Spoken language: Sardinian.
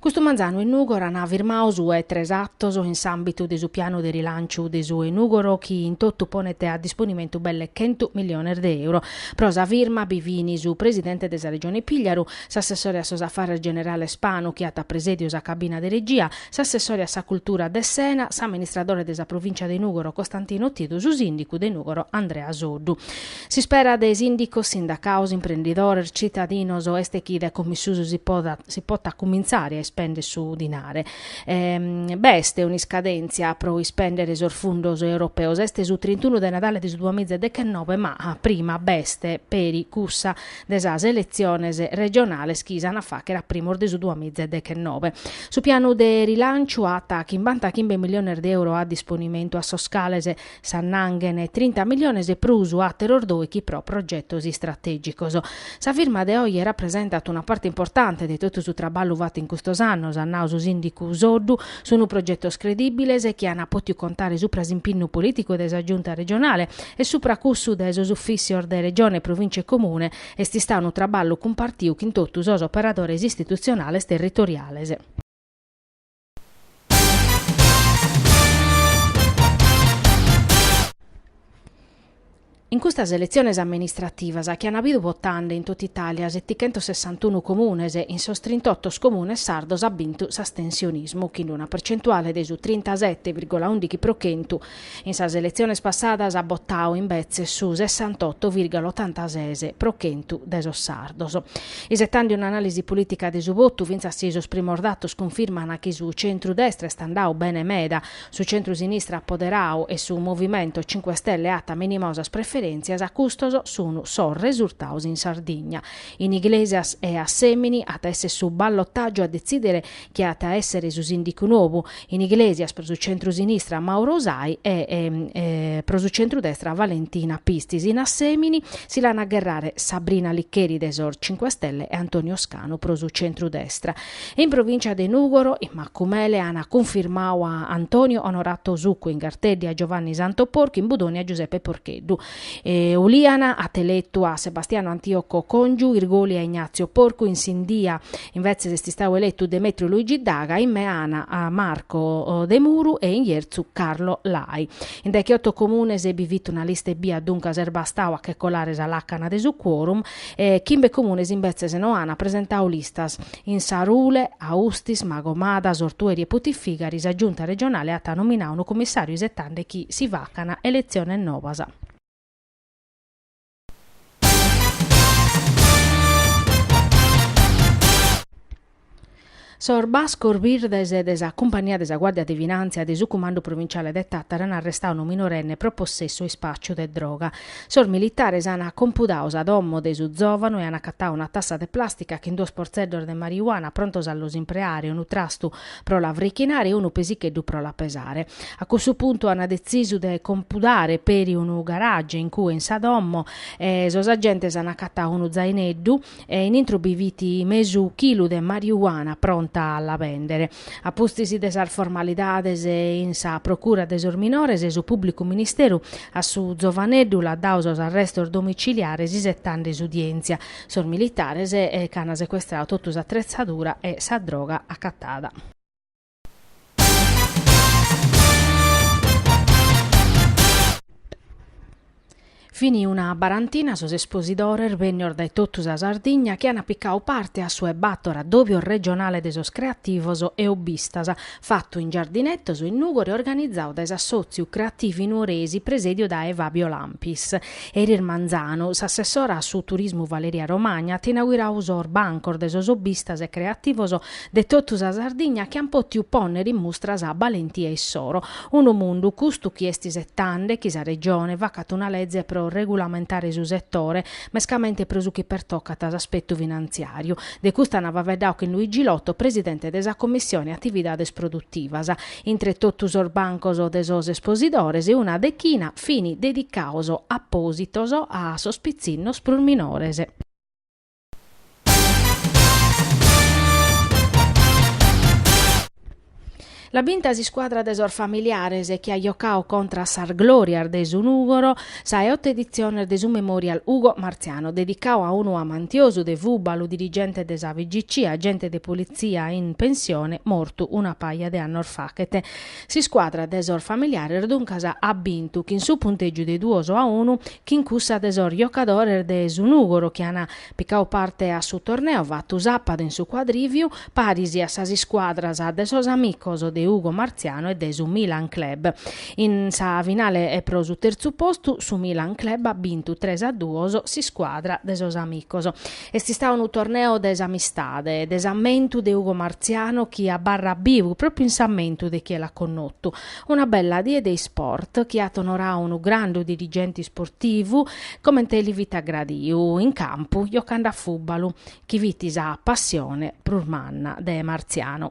Custu manzanu in Nùgoro an firmadu su 'e tres atos in s'àmbitu de su pianu de rilànciu de su 'e Nùgoro chi in totu ponet a disponimentu belle chentu milliones de euro. Pro sa firma bi fin su presidente de sa Regione Pìgliaru, s'assessore a sos afares generales Spanu chi at presèdiu sa cabina de regia, s'assessore a sa cultura Dessena, s'amministradore de sa provìncia de Nùgoro Costantino Tidu, su sìndicu de Nùgoro Andrea Soddu. S'ispera de sìndicos, sindacaos, imprendidores, citadinos est chi dae como in susu si potat cumintzare a ispèndere su dinare. B'est un'iscadèntzia pro ispèndere sos fundos europeos, est su trintunu de Nadale de su duamiza e dechennobe ma prima b'est peri cussa de sas eletziones regionales chi s'an a fàghere a primos de su duamiza e dechennobe. Su pianu de rilànciu at chimbantachimbe miliones de euro a disponimentu a sos cales S'annanghen trinta milliones e prus àteros dòichi pro progetos istratègicos. Sa firma de oje rapresentat una parte importante de totu su traballu fatu in custos annos, at nau su sìndicu Soddu. Sunt progetos credìbiles chi ant pòtiu contare supra s'impinnu polìticu de sa Giunta regionale e supra cussu de sos ufìssios de Regione, Provìncia e Comune. Est istadu unu traballu cumpartiu chin totu sos operadores istitutzionales territoriales. In custas eletziones amministrativas chi an bidu votende in totu Itàlia setighentosessantunu comunes, in sos trintoto comunes sardos at bintu s'astensionismu, chin una percentuale de su trintasete virgola ùndighi pro chentu, In sas eletziones passadas at botadu imbetzes su sessantoto virgula otantases pro chentu de sos sardos. Isetende un'anàlisi polìtica de su votu, fintzas si sos primos datos cunfirman chi su centru-destra est andadu bene meda, su centru-sinistra at poderadu e su Movimento Cinque Stelle at minimau sas preferèntzias, custos sun sos resurtados in Sardigna. In Iglesias e Assèmini at a èssere su ballotàgiu a detzìdere chie at a èssere su sìndicu nou, in Iglesias pro su centru-sinistra Mauro Usai e pro su centru-destra Valentina Pistis, in Assèmini si l'an a gherrare Sabrina Licheri de sos Cinque Stelle e Antonio Scanu pro su centru-destra. E in provìncia de Nùgoro, in Macumele an cunfirmadu a Antonio Onorato Succu, in Garteddi a Giovanni Santo Porcu, in Budoni a Giuseppe Porcheddu. Ulìana at eletu a Sebastiano Antioco Congiu, Irgoli a Ignazio Porcu, in Sindia invetzes est istadu eletu Demetrio Luigi Daga, in Meana a Marco Demuru e in Jertzu Carlo Lai. In decheoto comunes bi fit una lista ebbia duncas est bastadu a che colare sa làcana de su quorum, E chimbe comunes imbetzes no an presentadu listas. In Sarule, Austis, Magomadas, Ortueri e Putifigari sa Giunta regionale at nominadu unu comissàriu isetande chi si facan eletziones nobas. Sos bascos birdes de sa cumpania de sa Guàrdia de Finàntzia de su Cumandu Provinciale de Tàtara an arrestadu unu minorenne pro possessu e ispàciu de droga. Sos militares an compudadu sa domo de su zòvanu e an acatadu una tassa de plàstica chin duos portzeddos de marijuana prontos a los impreare, unu trastu pro la frichinare e unu pesicheddu pro la pesare. A cussu puntu an detzisu de compudare peri unu garage in cue in sa domo e sos agentes an acatadu unu zaineddu e in intro bi fit mesu chilu de marijuana pronta a la bèndere. A pustis de sas formalidades in sa procura de sos minores, su pùblicu ministeru a su zovaneddu l'at dadu sos arrestos domiciliares isetande s'udièntzia. Sos militares nc'an secuestradu totu s'atretzadura e sa droga acatada. Fini una barantina sos esposidores bennios dae totu sa Sardigna chi an picadu parte a su 'e bàtor Addòbios Regionale de sos Creativos e Obbistas, fatu in Giardinetos in Nùgoro e organizadu dae s'assòtziu Creativi Nuoresi presèdiu dae Fabio Lampis. Eris manzanu, s'assessora a su turismu Valeria Romagna at inauguradu sos bancos de sos obbistas e creativos de totu sa Sardigna chi an pòtiu pònnere in mustra sa balentia issoro. Unu mundu, custu, chi est isetande chi sa Regione facat una leze pro regulamentare su setore, mescamente pro su chi pertocat s'aspetu finantziàriu. De custu an faveddadu chin Luigi Lotto, presidente de sa Commissione Atividades Produtivas. Intre totu sos bancos de sos esposidores una dechina fin dedicados apòsitos a sos pitzinnos prus minores. L'at binta s'iscuadra de sos familiares chi at jocadu contra a sas glòrias de su Nùgoro. Sa 'e oto editziones de su Memorial Ugo Marziano, dedicadu a unu amantiosu de fùbalu, dirigente de sa FIGC, agente de politzia in pensione, mortu una paja de annos fachet. S'iscuadra de sos familiares duncas at bintu chin su puntègiu de duos a unu chin cussa de sos jocadores de su Nùgoro chi an Picau parte a su torneu fatu sàpadu in su Cuadrìviu, paris a sas iscuadras de sos amicos de Ugo Marziano e de su Milan Club. In sa finale pro su terzu postu su Milan Club at bintu tres a duos s'iscuadra de sos amicos. Est istadu unu torneu de s'amistade e de s'ammentu de Ugo Marziano chi abarrat bivu pròpriu in s'ammentu de chie l'at connotu. Una bella die de isport chi at onorau unu grandu dirigenti isportivu comente li fit agradiu in campu jocande a fùbalu, chi fit sa passione prus manna de Martziano.